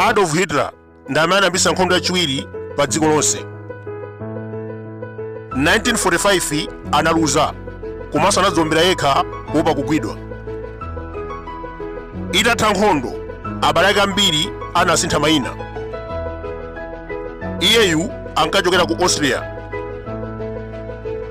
adolf hitler ndi amene anayambitsa nkhondo yachiwiri pa dziko lonse 1945 analuza komanso anadziwombera yekha kuopa kugwidwa itatha nkhondo abale ake ambiri anasintha mayina iyeyu ankachokera ku austria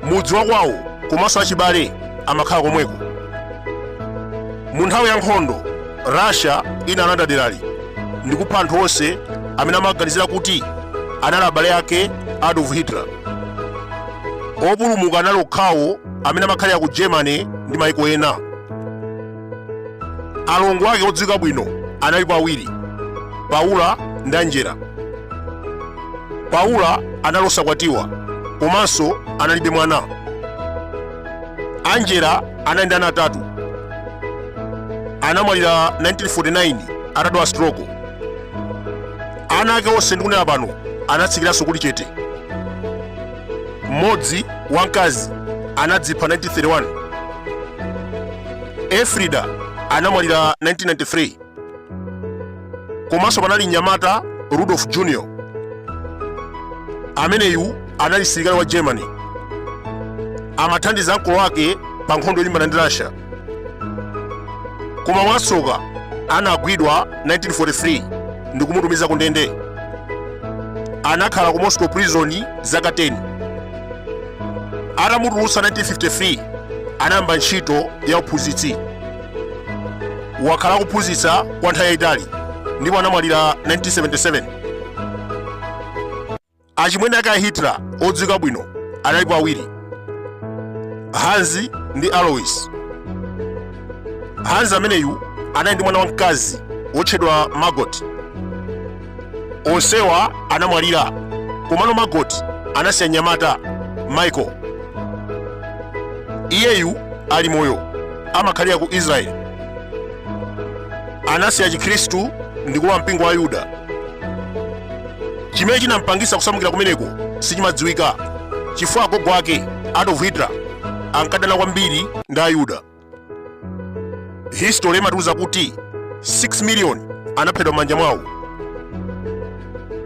mudzi wa kwawo komanso achibale amakhala komweko mu nthawi ya nkhondo russia inalanda derali ndi kupha anthu onse amene amaganizira kuti anali abale ake a adolf hitler opulumuka anali okhawo amene amakhalira ku germany ndi maiko ena alongo ake odziwika bwino analipo awiri paula ndi angela paula anali osakwatiwa komanso analibe mwana angela anali ndi ana atatu anamwalira 1949 atadwala stroko ana ake onse ndikunena pano anatsikiranso kuli chete mmodzi wamkazi anadzipha 1931 elfrida anamwalira 1993 komanso panali mnyamata rudolf junior ameneyu anali msilikali wa germany amathandiza ankolo ake pa nkhondo yolimbana ndi russia koma mwatsoka anagwidwa 1943 ndi kumutumiza ku ndende anakhala ku moscow prison zaka 10 atamutulutsa 1953 anayamba ntchito ya uphunzitsi wakhala akuphunzitsa kwa nthawi yayitali ndipo anamwalira 1977 achimwene ake a hitler odziwika bwino analipo awiri hans ndi alois hans ameneyu anali ndi mwana wamkazi wotchedwa margot onsewa anamwalira komano margot anasiya mnyamata michael iyeyu ali moyo amakhalira ku israeli anasiya chikhristu ndi kulowa mpingo wa ayuda chimene chinampangisa kusamukira kumeneko sichimadziwika chifukwa agogo ake adolf hitler ankadana kwambiri ndi ayuda history imatiuza kuti 6 million anaphedwa m'manja mwawo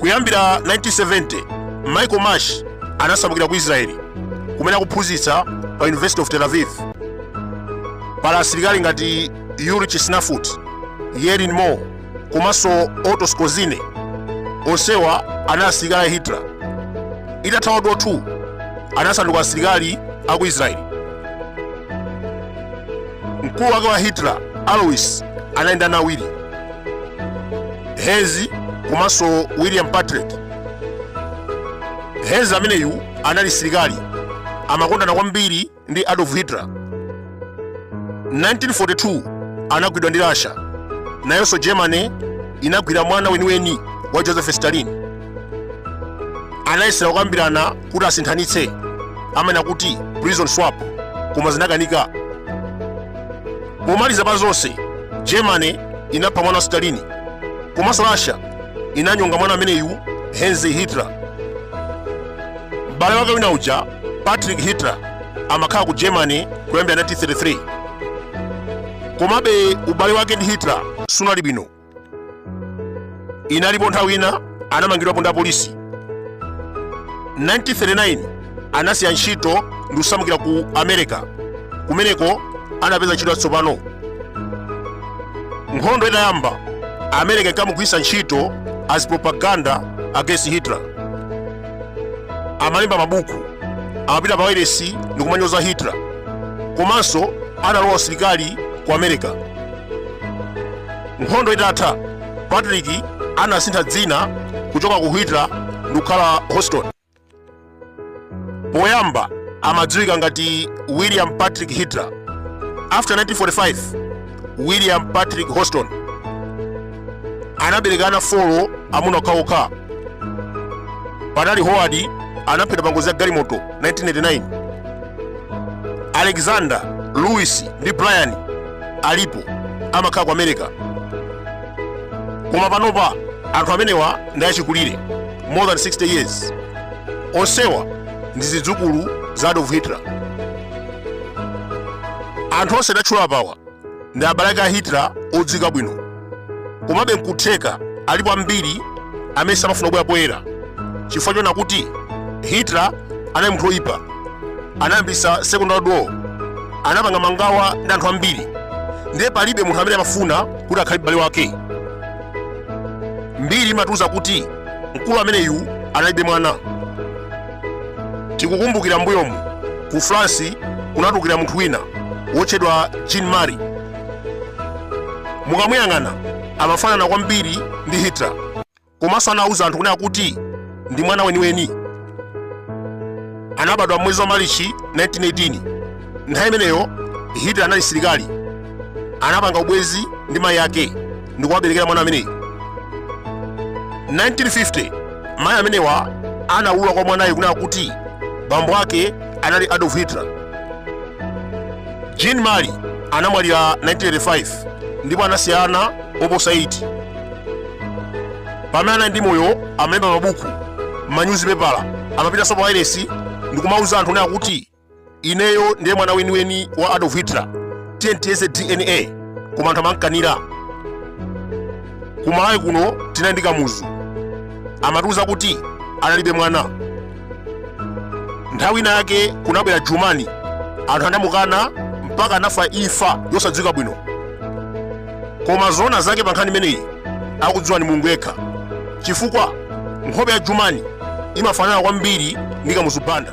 kuyambira 1970 michael marsh anasamukira ku israeli kumene akuphunzitsa pa university of tel aviv pali asilikali ngati yuri chisnafut yerin moore komanso Otto Skorzeny onsewa anali asilikali a Hitler. Itatha World War II anasanduka asilikali a ku Israeli. Mkulu wake wa Hitler Alois anali ndi ana awiri Heinz komanso William Patrick. Heinz ameneyu anali msilikali amakondana kwambiri ndi Adolf Hitler. 1942 anagwidwa ndi Russia. Nayonso Germany inagwira mwana weniweni wa Joseph Stalin. Anayesera kukambirana kuti asinthanitse amene amati prison swap koma zinakanika. Pomaliza pa zonse, Germany inapha mwana wa Stalin komanso Russia inanyonga mwana ameneyu Heinz Hitler. M'bale wake wina uja Patrick Hitler amakhala ku Germany kuyambira 1933. Komabe ubale wake ndi Hitler sunali bwino. Inalipo nthawi ina anamangidwapo ndi apolisi. 1939 anasiya ntchito ndi kusamukira ku America. Kumeneko anapeza ntchito yatsopano. Nkhondo itayamba, America inkamugwiritsa ntchito as propaganda against Hitler. amalemba mabuku amapita pa wailesi ndi kumanyoza hitler komanso analowa usilikali ku america nkhondo itatha patrick anasintha dzina kuchoka ku hitler ndi kukhala houston poyamba amadziwika ngati william patrick hitler after 1945 william patrick houston anabereka ana folo amuna okhaokha panali howard anaphedwa pa ngozi ya galimoto 1989 alexander louis ndi brian alipo amakhala ku america koma panopa anthu amenewa ndi achikulire more than 60 years onsewa ndi zidzukulu za adolf hitler anthu onse ndatchula apawa ndi abale ake a hitler odziwika bwino komabe nkutheka alipo ambiri amene samafuna kubwera poyera chifukwa choona kuti hitler anali munthu oyipa anayambisa second world war anapanga mangawa ndi anthu ambiri ndiye palibe munthu amene amafuna kuti akhale m'bale wake mbiri imatiuza kuti mkulu ameneyu analibe mwana tikukumbukira mbuyomu ku france kunatulukira munthu wina wotchedwa jean marie mukamuyang'ana amafanana kwambiri ndi hitler komanso anawuza anthu kunena kuti ndi mwana weniweni anabadwa mwezi wa malichi 1918 nthawi imeneyo hitler anali msilikali anapanga ubwenzi ndi mayi ake ndikuwaberekera mwana ameneyi 1950 mayi amenewa anawulula kwa mwanayo kunena kuti bambo ake anali adolf hitler jean marie anamwalira 1985 ndipo anasiya ana oposa 8 pamene anali ndi moyo amalemba mabuku manyuzipepala amapitanso pa wailesi ndikumauza anthu kunena kuti ineyo ndiye mwana weniweni wa adolf hitler tiyeni tiyeze dna koma anthu amamkanira kumalawi kuno tinali ndi kamuzu amatiuza kuti analibe mwana nthawi ina yake kunabwera jumani anthu anamukana mpaka anafa imfa yosadziwika bwino koma zoona zake pa nkhani imeneyi akudziwa ni mulungu yekha chifukwa nkhope ya jumani imafanana kwambiri ndi kamuzu banda